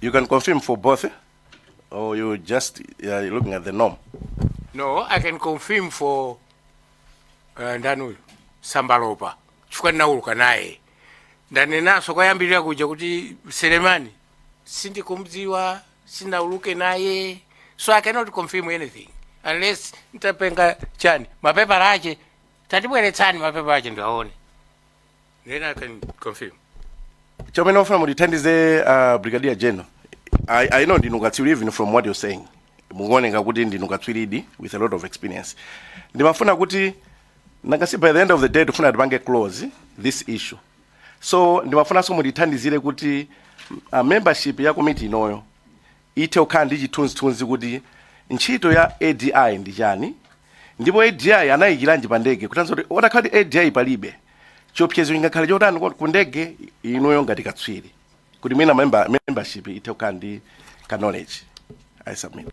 You can confirm for both, eh? or you just uh, you're looking at the norm. no i can confirm for uh, ndani uyu sambalopa chifukwa ndinauluka naye ndanenanso kwayambirira kuja kuti selemani sindikumdziwa sinauluke naye so i cannot confirm anything unless nditapenga chani mapepala ache tatibweretsani mapepala ache ndiwaone Then I can confirm. chomwe ndimafuna mutithandize uh, brigadier general I, i know ndinu katswiri even from what you're saying mukuoneka kuti ndinu katswiridi with a lot of experience ndimafuna kuti nanga si by the end of the day tifuna tipange close this issue so ndimafunanso mutithandizire kuti uh, membership ya komiti inoyo ithe kukhala ndi chithunzithunzi kuti ntchito ya ADI ndi chani ndipo ADI anayikilanji pa ndege kutanso kuti otakhala kuti ADI palibe chiopsezo chingakhale chotani kwa- ku ndege inuyo ngati katswiri kuti mwina member, membership ithe kukhala ndi ka knowledge I submit.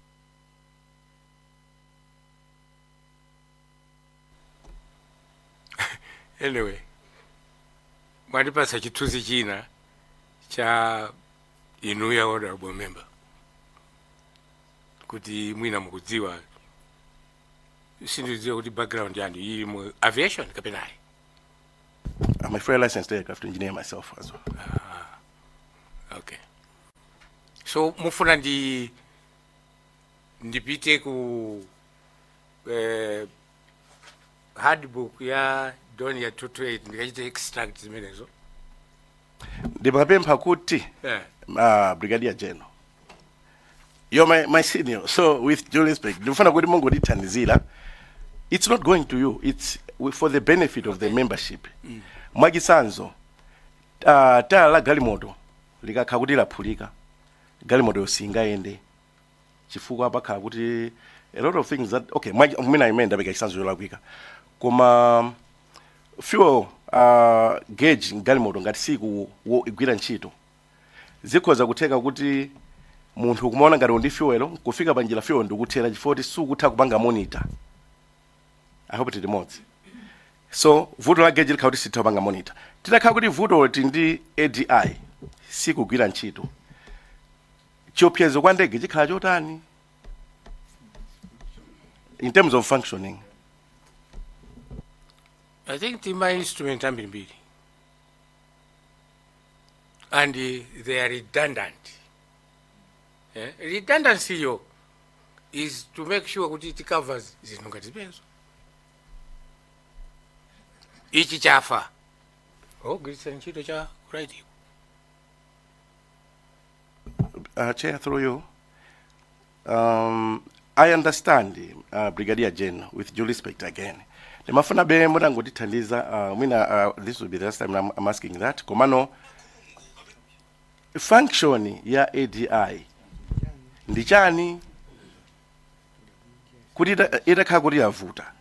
anyway mwandipatsa chithunzi china cha inuyo honorable member kuti mwina mukudziwa sindidziwa kuti background yanu ili mu aviation kapena ayi I'm a fully licensed aircraft engineer myself as well. okay so mufuna ndi ndipite ku eh, handbook ya Dornier 228 ndikachite extract zimenezo ndimapempha kuti yeah. uh, brigadier general you're my, my senior so with due respect ndikufuna kuti mungotithandizira it's not going to you it's for the benefit of the membership mm. mwachisanzo uh, tayala la galimoto likakhala kuti laphulika galimoto yo singayende chifukwa pakhala kuti a lot of things that okay mwa- mwina imene ndapereka chitsanzo yolakwika koma fuel uh, gauge mgalimoto ngati siku wo- igwira ntchito zikhoza kutheka kuti munthu kumaona ngati uli ndi fuel kufika pa njira fuel nkukuthera chifukwa kuti sukutha kupanga monitor i hope tili limodzi so vuto la gauge likhala kuti sitha kupanga monitor titakhala kuti vuto ti ndi adi sikugwira ntchito chiopsezo kwa ndege chikhala chotani in terms of functioning I think the ma instrument ambirimbiri and uh, they are redundant. Eh? Redundancy yo is to make sure kuti it covers zinthu ngati zimenezo. Ichi chafa. Ogwiritsa ntchito cha ku right ko Uh, Chair, through you. Um, I understand, uh, Brigadier General, with due respect again. Timafunabe mutangotithandiza, uh, mwina uh, this will be the last time I'm, I'm asking that. Komano, function ya ADI ndi chani kuti ita- itakhala kuti yavuta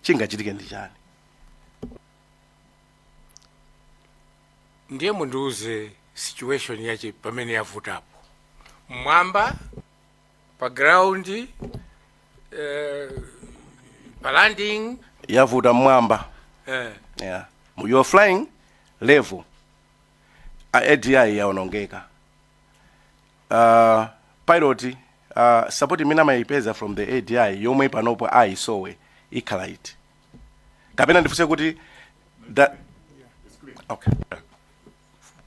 chingachitike ndi chani ndiye mundiuze situation yache pamene yavutapo mmwamba pa ground eh, pa landing yavuta mmwamba eh, yeah. Mu- you're flying level A- adi yaonongeka uh, pilot uh, support imene amayipeza from the adi yomwe panopo ayisowa ikhala iti kapena ndifunse kuti da, okay.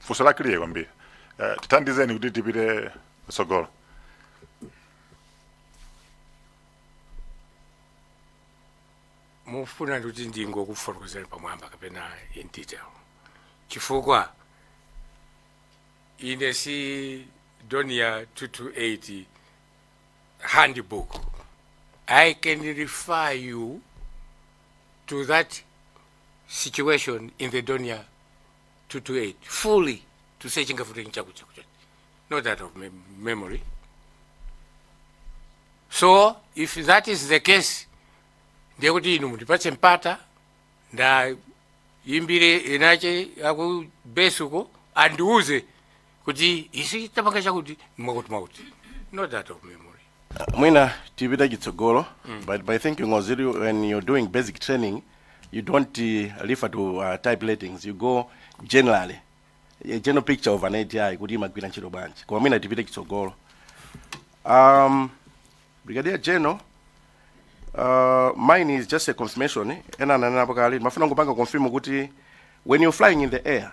funso la clear kwambiri Eh, tithandizeni kuti tipite tsogolo mufuna kuti ndingokufotokozerani pamwamba kapena in detail chifukwa ine si Dornier 228 handbook. I can refer you to that situation in the Donia 228 fully to say chingafute nchakuchakucha. Not that of mem memory. So if that is the case, ndiye kuti inu mutipatse mpata nda yimbire enache akubesuko andiuze kuti isi tapanga chakuti mwakuti mwakuti not out of memory mwina tipite chitsogolo but by thinking ngoziri when you're doing basic training you don't uh, refer to uh, type ratings you go generally a general picture of an adi kuti imagwira ntchito bwanji koma mwina tipite chitsogolo um, brigadier general uh, mine is just a confirmation ena ananenapo kale ndimafuna kungopanga confirm kuti when you're flying in the air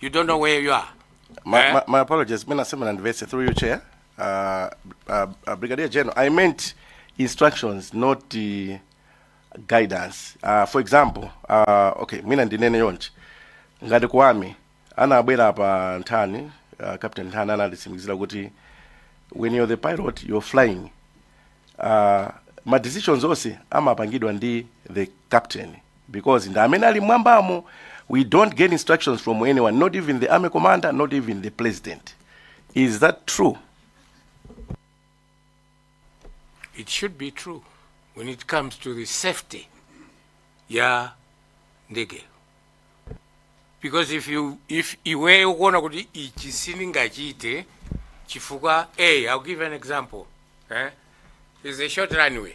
You don't know where you are. My, eh? my, my apologies, Mina Simon and Vese, through your chair. Uh, uh, uh, Brigadier General, I meant instructions, not the guidance. Uh, for example, uh, okay, Mina ndinene yonchi. Ngati kuwami, anabwera pa nthani, uh, Captain Nthani analisimikizira kuti when you're the pilot, you're flying. Uh, ma decisions onse amapangidwa ndi the captain because ndi amene ali mmwambamo we don't get instructions from anyone not even the army commander not even the president is that true it should be true when it comes to the safety ya ndege because if you if iwe ukuona kuti ichi sindingachite chifukwa a i'll give an example eh? is a short runway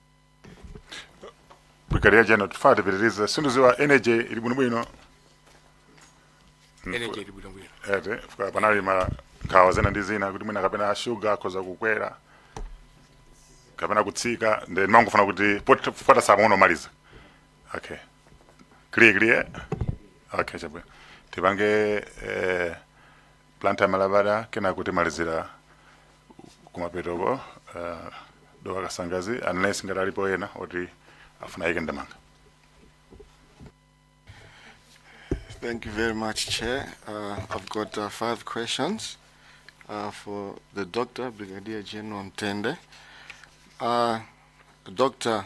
brigadier general tifuna tipitirize sindiziwa energy ili bwinobwino energy ili bwinobwino eti chifukwa panali ma nkhawa zina ndi zina kuti mwina kapena shuga akhoza kukwera kapena kutsika ndi ndimangofuna kuti pot- pofika saa imeneyo timalize okay clear clear okay chabwino tipange eh, blantyre malabada kenako timalizira kumapetoko uh, dowa kasangadzi unless ngati alipo ena oti afuna ayike ndemanga Thank you very much, Chair. Uh, I've got uh, five questions uh, for the Doctor, Brigadier General Mtende. Uh, Doctor,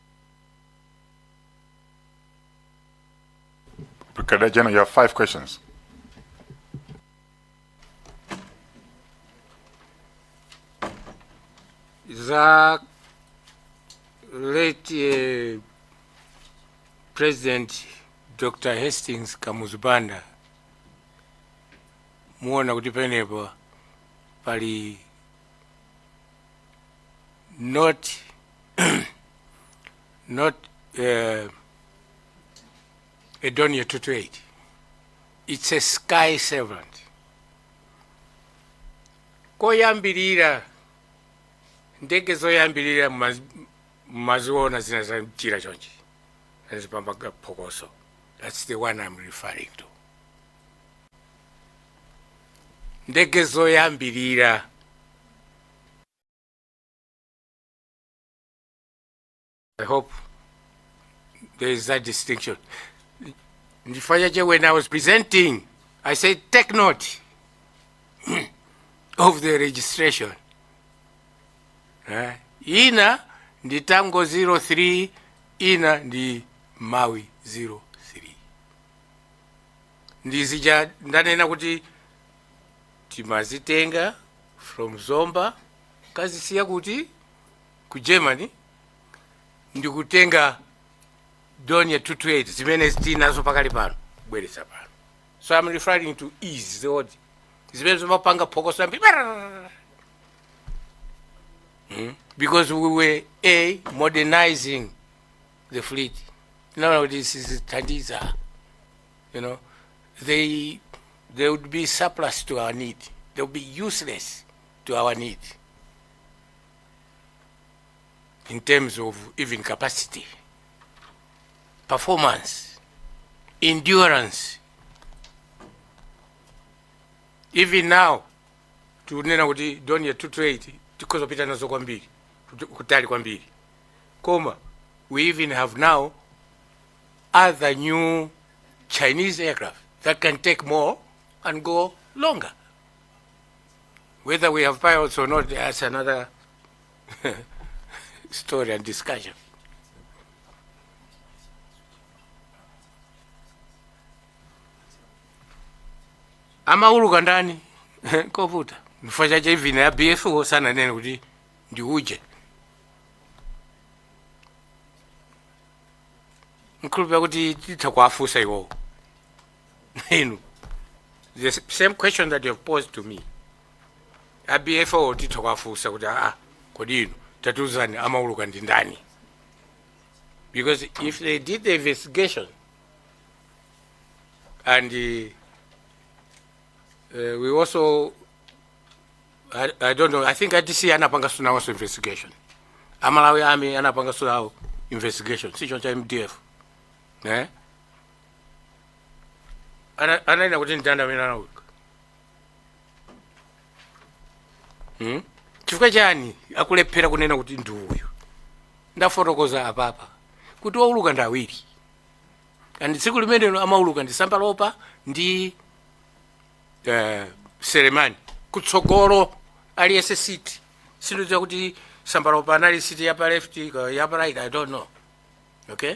Brigadier General, you have five questions. za late eh, president dr hastings kamuzu banda muona kuti penepo pali not not a Dornier 228. It's a Skyservant. Koyambirira ndege zoyambirira mumaz- mumaziona zina za mchira chonchi zimapanga phokoso. That's the one I'm referring to. Ndege zoyambirira I hope there is that distinction. Ndi chifukwa chache, when I was presenting, I said, take note of the registration. Eh, Ina ndi Tango 03, ina ndi Mawi 03. Ndi zija ndanena kuti timazitenga from Zomba kazisiya kuti ku germany ndikutenga dornier 228 zimene tili nazo pakali pano kubweretsa pano so i'm referring to these old zimene zimapanga phokoso kwambiri Hmm? because we were a modernizing the fleet tinaona kuti sizithandiza you know they they would be surplus to our need they would be useless to our need in terms of even capacity, performance, endurance. Even now, tunena kuti doni ya 228 tikhoza kupita nazo kwambiri kuti- kutali kwambiri koma we even have now other new chinese aircraft that can take more and go longer Whether we have pilots or not, that's another story and discussion. amauluka ndani nkovuta chifukwa chache even a bfu sananene kuti ndi uje mkhulupira kuti titha kuwafunsa iwowo inu the s- same question that you have posed to me a bfu titha kwafunsa kuti aa kodi inu tatiuzani amauluka ndi ndani because if they did the investigation and uh, uh, we also I, I don't know i think adc anapanganso nawonso investigation a malawi army anapanganso nawo investigation si choncho a mdf eh? Ana- ananena kuti ndani amene anauluka Hmm? chifukwa chani akulephera kunena kuti ndi uyu ndafotokoza apapa kuti owuluka ndi awiri and tsiku limenelo amauluka ndi Sambalopa ndi eh, Selemani kutsogolo aliyense siti sindidziwa kuti Sambalopa anali siti yapa left ka- yapa right i don't know okay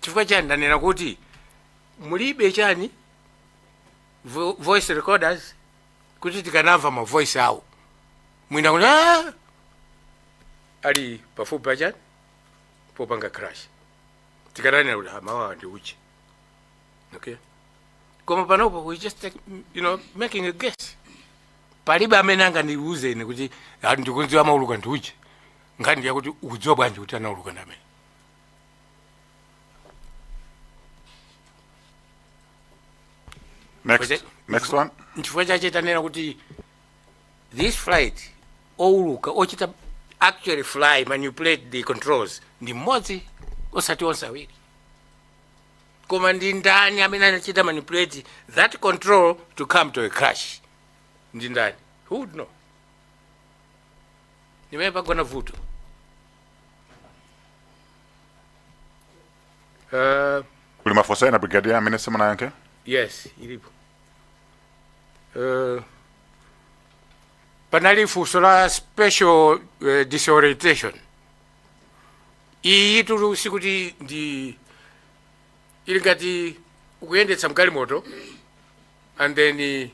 chifukwa chani ndanena kuti mulibe chani vo, voice recorders kuti tikanamva ma voice awo mwina kuti "Ah!" ali pafupi pa chani popanga crash tikananena kuti ah mawuwa ndi uje okay koma panopo we just like, you know making a guess palibe amene angandiuze ine kuti "Ah, ndikudziwa amauluka ndi uje nkhani yakuti ukudziwa bwanji kuti anauluka ndi ameneyo Next, Wait, next one. nchifukwa chache tanena kuti this flight owuluka ochita actually fly manipulate the controls ndi mmodzi osati onse awiri koma ndi ndani amene anachita manipulate that control to come to a crash ndi ndani who would know ndimmene pagona vuto uh, kuli mafunso ena brigadier amene simunayankhe yes ilipo uh, panali funso la spatial uh, disorientation iyitu sikuti ndi ili ngati ukuyendetsa galimoto and then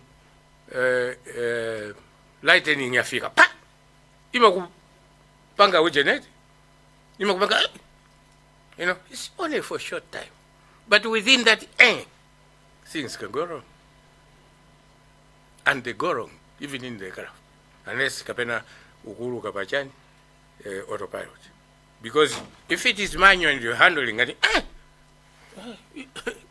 uh, uh, lightning yafika pa imakupanga ujeneti imakupanga eh, you know it's only for short time but within that eh, things can go wrong and they go wrong even in the aircraft unless kapena ukuluka pachani eh, autopilot because if it is manual and you're handling and eh,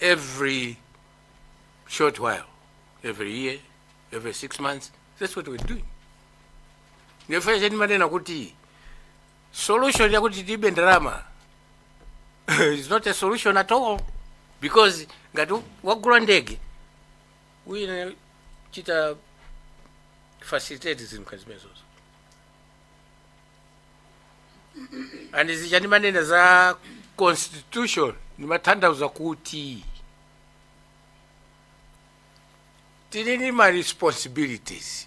every short while, every year, every six months. That's what we're doing. Nchifukwa chake ndimanena kuti solution ya kuti tilibe ndalama is not a solution at all because ngati wagula ndege uyenera kuchita facilitate zinthu zimenezo and zija ndimanena za constitution ndimathandauza kuti tili ndi ma responsibilities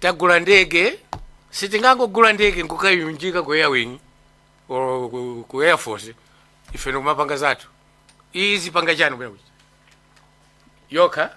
tagula ndege sitingangogula ndege nkukayunjika ku airwing or ku- ku air force ife nkumapanga zathu izipanga chani kuyakuti yokha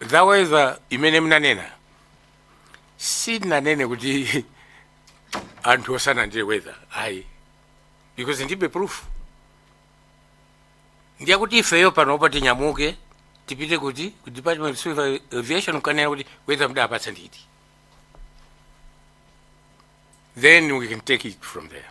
za weather imene mnanena sindinanene kuti anthu osanena ndiye weather ayi because ndibe proof ndiye kuti ifeyo panopa tinyamuke tipite kuti ku department of civil aviation kukanena kuti weather mdapatsa ndi iti then we can take it from there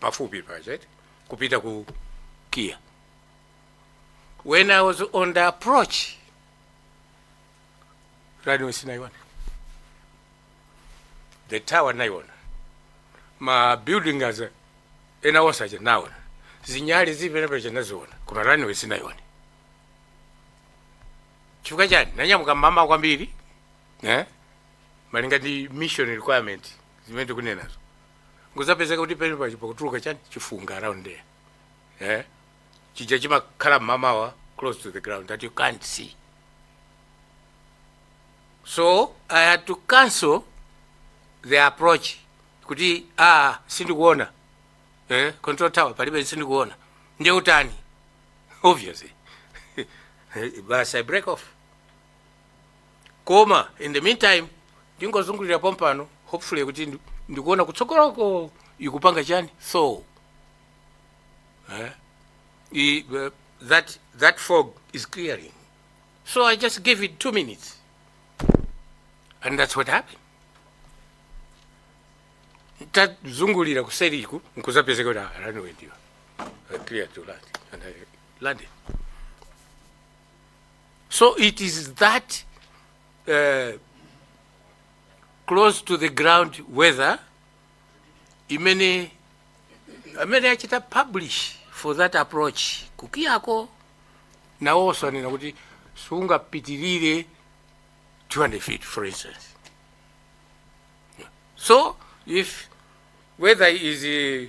pafupi paja eti kupita ku kia when i was on the approach runway sinaiona the tower naiona ma buildings ena onse aja naona zinyali zili penapake naziona koma runway sinaiona chifukwa chani nanyamuka mmamawa kwambiri eh? malinga ndi mission requirement zimene tikunenazo Nkudzapezeka kuti pamene paja pakutuluka chani chifunga around there. Eh? Chija chimakhala mmamawa close to the ground that you can't see. So I had to cancel the approach kuti ah sindikuona eh control tower palibe sindikuona ndiye utani obviously basi i break off koma in the meantime ndingozungulira pompano hopefully kuti ndi- ndikuona kutsogoloko ikupanga chani so eh, i, uh, that, that fog is clearing so i just gave it two minutes and that's what happened tazungulira kuseriku nkuzapezeka kuti ah, runway ndiyo cleared to land and i landed So it is that uh, close to the ground weather imene amene achita publish for that approach kukiyako nawonso anena kuti sungapitirire 200 feet for instance so if weather is uh,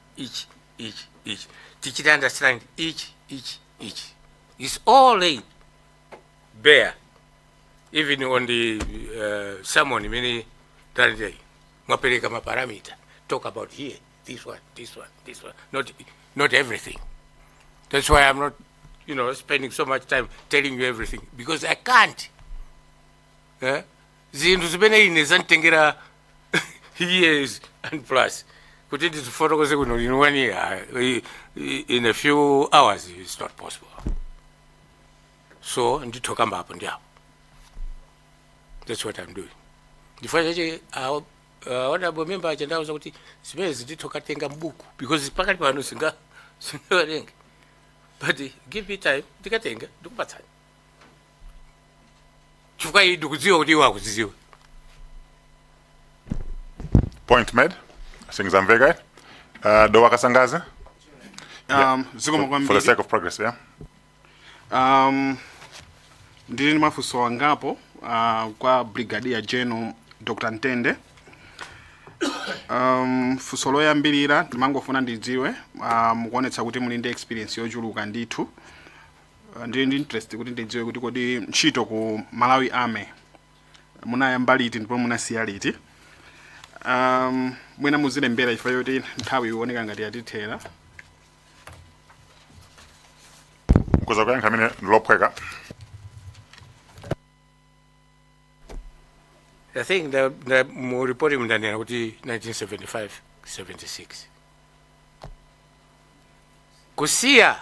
ichi ichi ichi tichite understand ichi ichi ichi is all laid bare even on the uh, sermon imene talandirayi mwapereka maparameter talk about here this one this one this one not, not everything that's why i'm not you know spending so much time telling you everything because i can't eh? zinthu zimene ine zanditengera years and plus kuti ndizifotokoze kuno lino one year i- i- in a few hours it's not possible so nditha kukamba apo ndi apo that's what i'm doing ndifuna chache honorable member aja ndauza kuti zimenezi nditha kukatenga buku because pakati pano sindi sindingawerenge but give me time ndikatenga ndikupatsani chifukwa iyi ndikudziwa kuti iwo akuzidziwa Point made. Things are very good. Uh, Dowa Kasangazi, Um, zikomo kwambiri for the sake of progress, yeah? um, ndili ndi mafunso angapo uh, kwa brigadier general dr mtende um, funso loyambirira ndimangofuna ndidziwe uh, mukuonetsa kuti muli ndi experience yochuluka ndithu Uh, ndili ndi interest kuti ndidziwe kuti kodi ntchito ku malawi army munayamba liti ndipo munasiya liti um, mwina muzilembera chifukwa choti nthawi ikuoneka ngati yatithera Kuzakuyankhani limenelo lophweka I think the, the mu report ndanena kuti 1975 76 kusiya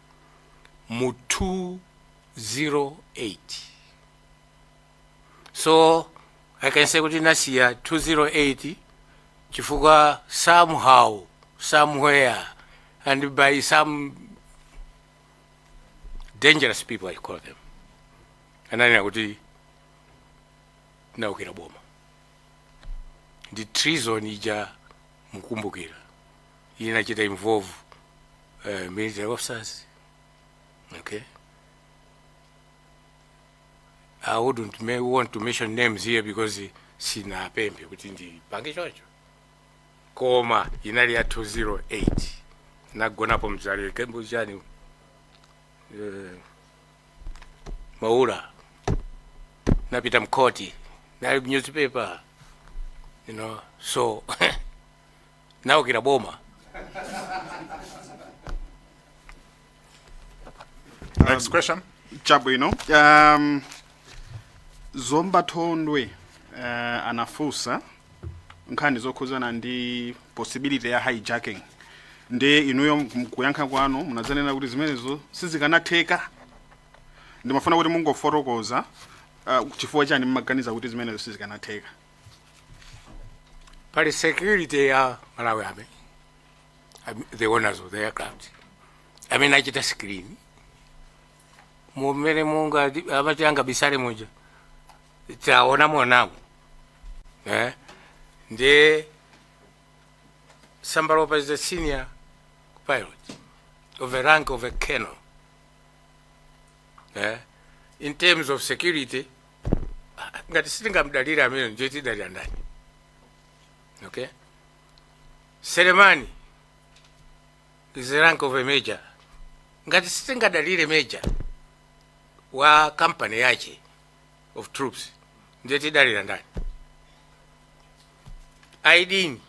mu 208 so i can say kuti ndinasiya 208 chifukwa somehow somewhere and by some dangerous people i call them ananena kuti ndinaukira boma nde treason ija mukumbukira inachita involve uh, military officers okay i wouldn't may want to mention names here because sinapemphe kuti ndipange choncho koma inali ya 208 nagonapo mu Zalewa Camp chani uh, maula napita mkoti nali newspaper you know so naukira boma Next question. chabwino um, zomba thondwe uh, anafunsa nkhani zokhuzana ndi possibility ya hijacking nde inuyo mkuyankha kwanu munadzanena kuti zimenezo sizikanatheka ndimafuna kuti mungofotokoza uh, chifukwa chani mmaganiza kuti zimenezo sizikanatheka pali security ya malawi army Am- the owners of the aircraft amachita screen mumene munthu amati angabisale muja taona mwanangu eh? nde sambalopa is the senior pilot of the rank of a colonel eh? in terms of security ngati sitingamdalire ameneyo ndiye tidalira ndani okay selemani is the rank of a major ngati sitingadalire major wa company yache of troops ndiye tidalira ndani aidini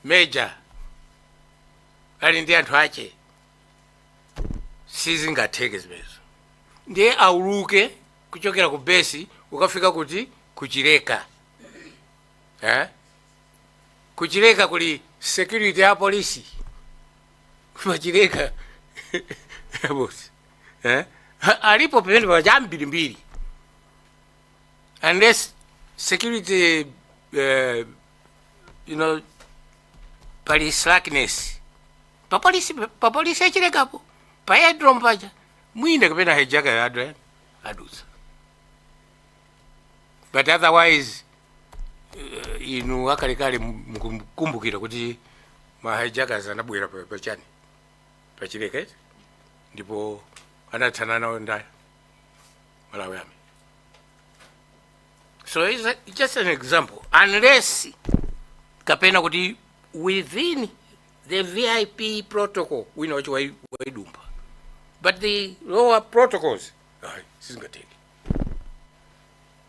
major ali ndi anthu ache sizingatheke zimenezo ndiye auluke kuchokera ku besi ukafika kuti kuchileka eh? kuchileka kuli security ya polisi pachileka bosi eh? Ha- alipo pamene paja ambirimbiri unless security eh, you know pali slackness papolisi papolisi achilekapo pa aerodrome paja mwina kapena hijacker adwa adutsa but otherwise uh, inu akalekale mukumbukira kuti ma hijackers anabwera pa- pachani pachileka eti ndipo anathana nawo ndani malawi army so it's a- it's just an example unless kapena kuti within the vip protocol wina wacho waidumba but the lower protocols sizingatheke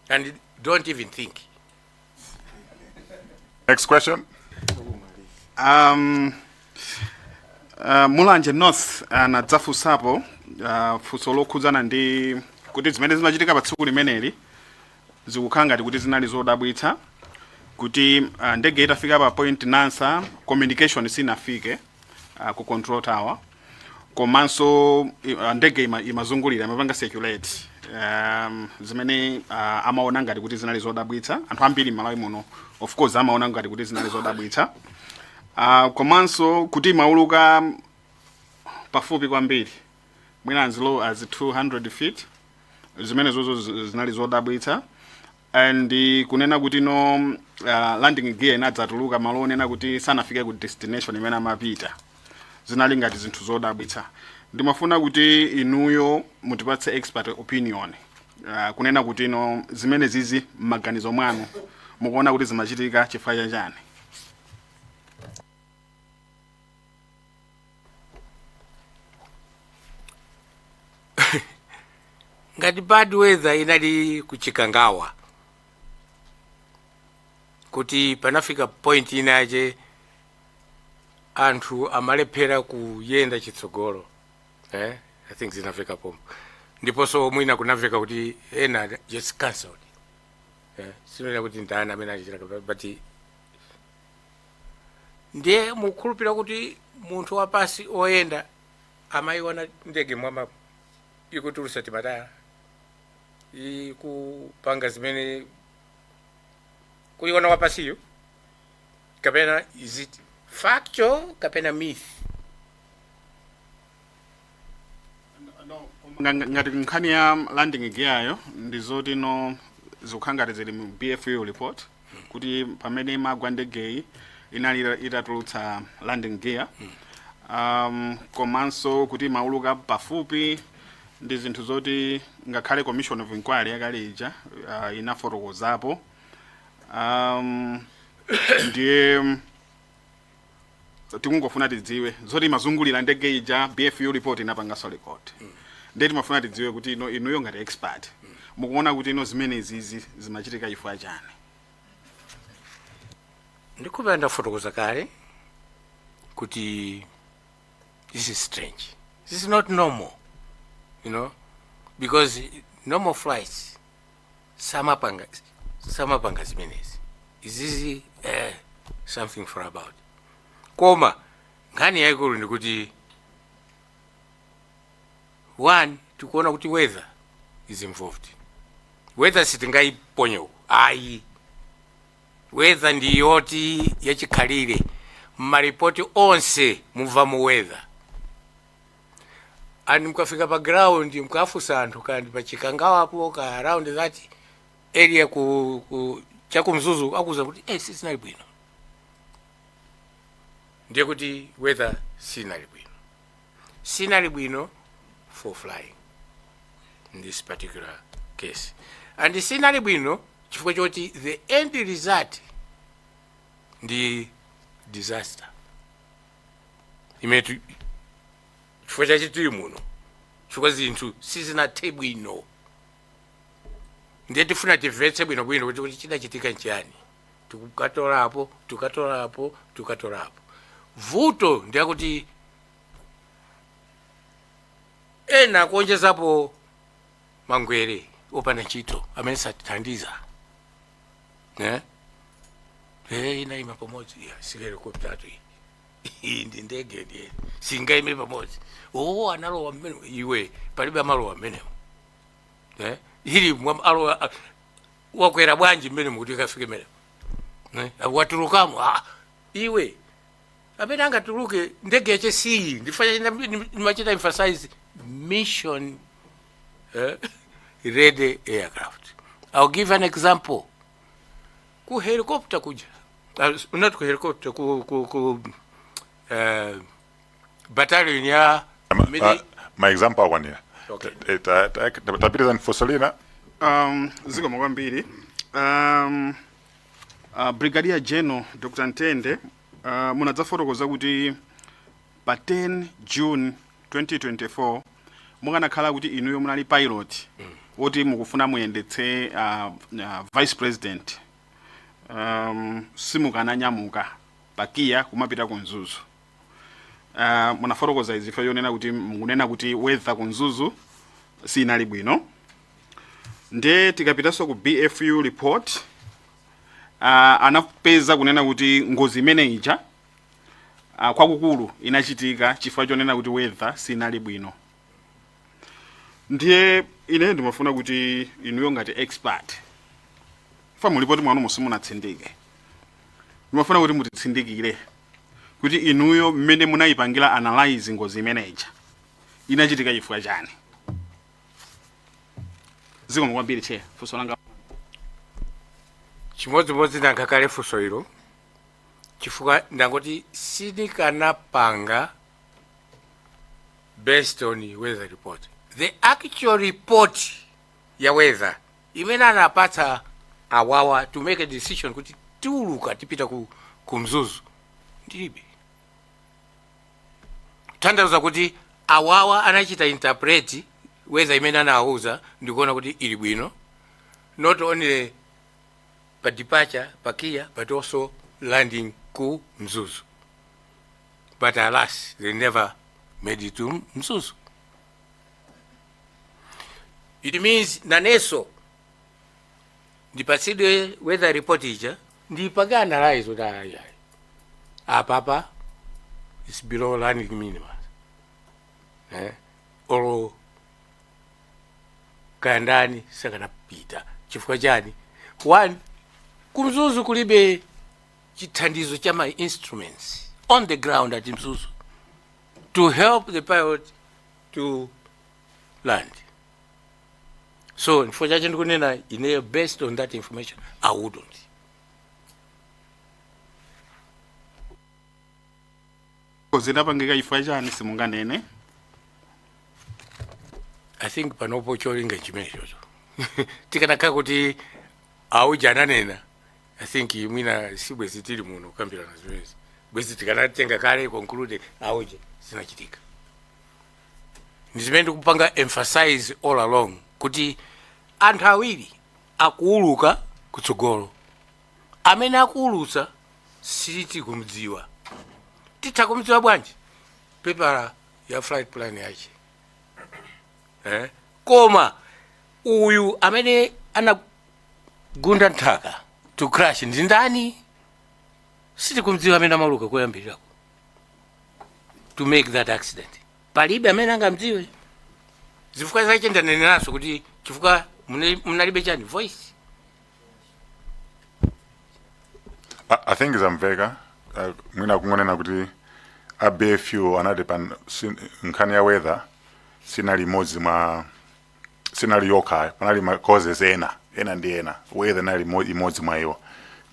and don't even think next question um, uh, mulanje north anadzafunsapo uh, uh, funso lokhudzana ndi kuti zimene zimachitika pa tsiku limeneli Zikukhala ngati kuti zinali zodabwitsa kuti ndege itafika pa point nansa communication sinafike ku control tower komanso ndege ima imazungulira imapanga circulate um, zimene uh, amaona ngati kuti zinali zodabwitsa anthu ambiri mmalawi muno of course amaona ngati kuti zinali zodabwitsa uh, komanso kuti imauluka pafupi kwambiri mwina as low as 200 feet zimenezozo zi- zinali zodabwitsa and eh, kunena kuti no uh, landing gear inadzatuluka malo onena kuti sanafike ku destination imene amapita zinali ngati zinthu zodabwitsa ndimafuna kuti inuyo mutipatse expert opinion uh, kunena kuti no zimene zizi m'maganizo mwanu mukuona kuti zimachitika chifukwa chachani ngati bad weather inali kuchikangawa kuti panafika point inache anthu amalephera kuyenda chitsogolo eh? i think zinamveka pompo ndiponso mwina kunamveka kuti ena just cancelled eh? sinena kuti ndani amene achitira but Ndiye mukukhulupirira kuti munthu wapansi woyenda amaiona ndege mmwambamo ikutulutsa timatayala, ikupanga zimene kuiona wapansiyo, kapena is it factual kapena myth? No, koma- Nga- ngati nkhani ya landing gear yo ndizoti no zikukhala ngati zili mu bfu report kuti pamene imagwa ndegeyi inali ita- itatulutsa landing gear um, komanso kuti imauluka pafupi ndi zinthu zoti ngakhale commission of inquiry yakale ija uh, inafotokozapo um, ndiye tikungofuna tidziwe zoti imazungulira ndege ija bfu report inapanganso record ndiye timafuna tidziwe kuti ino inuyo ngati expert mukuona kuti ino zimenezizi zimachitika chifukwa chani ndikupenda ndafotokoza kale kuti this is strange this is not normal you know because normal flights samapanga samapanga zimenezi izizi eh, something for about koma nkhani yayikulu ndi yakuti one tikuona kuti weather is involved weather sitingayiponye ayi weather ndi yoti yachikhalire mmaripoti onse mumvamo weather and mukafika pa ground mukafunsa anthu kaya ndi pa chikangawapo kaya around that area ku, ku chakumzuzu akuuzani kuti eh, sizinali bwino ndiye kuti weather sinali bwino sinali bwino for flying in this particular case and sinali bwino chifukwa choti the end result ndi disaster imene chifukwa chache tili muno chifukwa zinthu sizinathe bwino ndiye tifuna timvetse bwinobwino kuti kuti chidachitika nchiyani tikutolapo tikutolapo tikutolapo vuto ndi lakuti ena akuonjezapo mangwere opanda ntchito amene satithandiza eh? Eh, inaima pamodzi iyayi sihelikoptatu iyi iyi ndi ndege ndiye singaime pamodzi oo analowa mmenemo iwe palibe amalowa mmenemo eh? ili mwa- alowa a- wakwera bwanji mmenemo kuti ikafike mmenemo eh? watulukamo ah, iwe amene angatuluke ndege yache siyi ndifanya china ndimachita emphasize mission eh, ready aircraft i'll give an example ku helicopter kuja uh, not ku helicopter ku, ku, ku uh, battalion ya mili- ma example akwanira Okay. Eh, ta- ta- ta- tapitiriza nifosolina um, zikomo kwambiri um, uh, brigadier general dr ntende Uh, munadzafotokoza kuti pa 10 June 2024 mukanakhala kuti inuyo munali pilot woti mukufuna muyendetse uh, uh, vice president um, simukananyamuka pa KIA kumapita ku mzuzu uh, munafotokoza zifukwa zonena kuti mukunena kuti weather ku mzuzu sinali bwino nde tikapitanso ku bfu report uh, anapeza kunena kuti ngozi imene ija uh, kwakukulu inachitika chifukwa chonena kuti weather sinali bwino ndiye ine ndimafuna kuti inuyo ngati expert fukwa mu lipoti mwanu simunatsindike ndimafuna kuti mutitsindikire kuti inuyo mmene munayipangira analyze ngozi imene ija inachitika chifukwa chani zikomo kwambiri chair funso langa chimodzimodzi ndayankha kale funso ilo chifukwa ndangoti sindikanapanga based on weather report the actual report ya weather imene anapatsa awawa to make a decision kuti tiuluka tipita ku, ku mzuzu ndilibe kutanthauza kuti awawa anachita interpret weather imene anawauza ndikuona kuti ili bwino not only pa departure pa kia but also landing ku mzuzu but alas they never made it to mzuzu it means nanenso ndipatsidwe weather report ija ndipange analyze kuti ayi ayi apapa is below landing minimum eh olo kaya ndani sakanapita chifukwa chani one kumzuzu kulibe chithandizo cha ma instruments on the ground at mzuzu to help the pilot to land so chifukwa chache ndikunena ineyo based on that information i wouldn't zidapangika chifukwa chani simunganene i think panopo cholinga chimenechocho tikanakhala kuti auja ananena i think mwina si bwezi tili muno kukambirana zimenezi bwezi tikanapanga kale conclude auja zinachitika ndizimene ndikupanga emphasize all along kuti anthu awiri akuuluka kutsogolo amene akuulutsa sitikumdziwa titha kumdziwa bwanji pepala ya flight plan yake eh? koma uyu amene anagunda nthaka to crash ndi ndani sitikumdziwa amene amauluka koyambirirako to make that accident palibe amene angamdziwe zifukwa zache ndaneneranso kuti chifukwa mune- munalibe chani voice I, I think zamveka uh, mwina kungonena kuti a bfu anati pa nkhani ya weather sinali imodzi mwa sinali yokha panali ma causes ena ena ndi ena weather inali mo- imodzi mwa iwo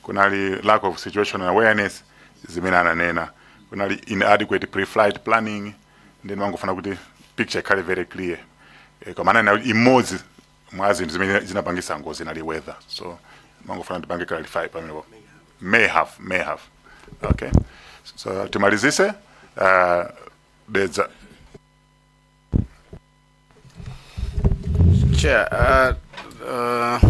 kunali lack of situational awareness zimene ananena kunali inadequate pre-flight planning nde mangofuna kuti picture ikhale very clear e, koma ananena kuti imodzi mwa zinthu zimene zinapangisa ngozi inali weather so mangofuna ndipange clarify pamenepo may have may have okay so timalizise uh, dedza chair uh, uh,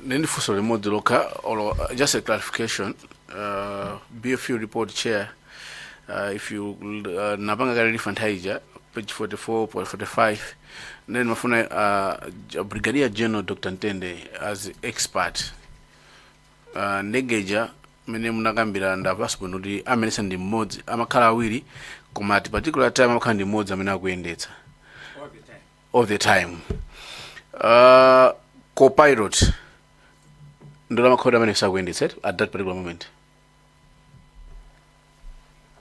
nindi funso limodzi lokha or uh, just a clarification uh, bfu report chair uh, if you uh, napanga kale lifa nthawi ija page 44 point 45 then mafuna uh, J- brigadier general dr ntende as expert uh, ndege ija mmene munakambira ndamvetsa bwino kuti amayendetsa ndi mmodzi amakhala awiri koma at particular time amakhala ndi mmodzi amene akuyendetsa all the time uh, copilot ndekuti amakhala kuti amene sakuyendetsa at that particular moment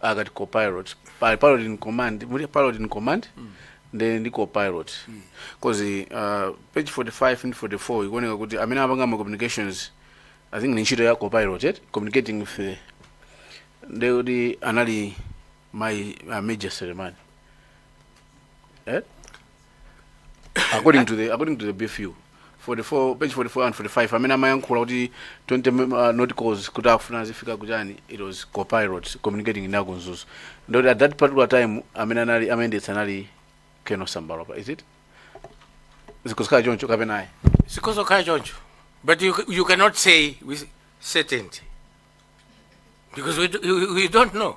akati copilot pali pilot in command muli pilot in command nde ndi copilot coz uh, page 45 ndi 44 ikuoneka kuti amene amapanga ma communications i think ni ntchito ya copilot eh? communicating with the ndekuti anali mai uh, major selemani eh? according to the according to the bfu 44 page 44 and 45 amene amayankhula kuti 20 mem- uh, nauticals kuti akufuna azifika kuchani it was copilot communicating ndi aku mzuzu ndekuti at that particular time amene anali amayendetsa anali colonel sambalopa is it zikhoza kukhala choncho kapena ayi Zikhoza kukhala choncho. But you, you cannot say with certainty. Because we, do- we, we don't know.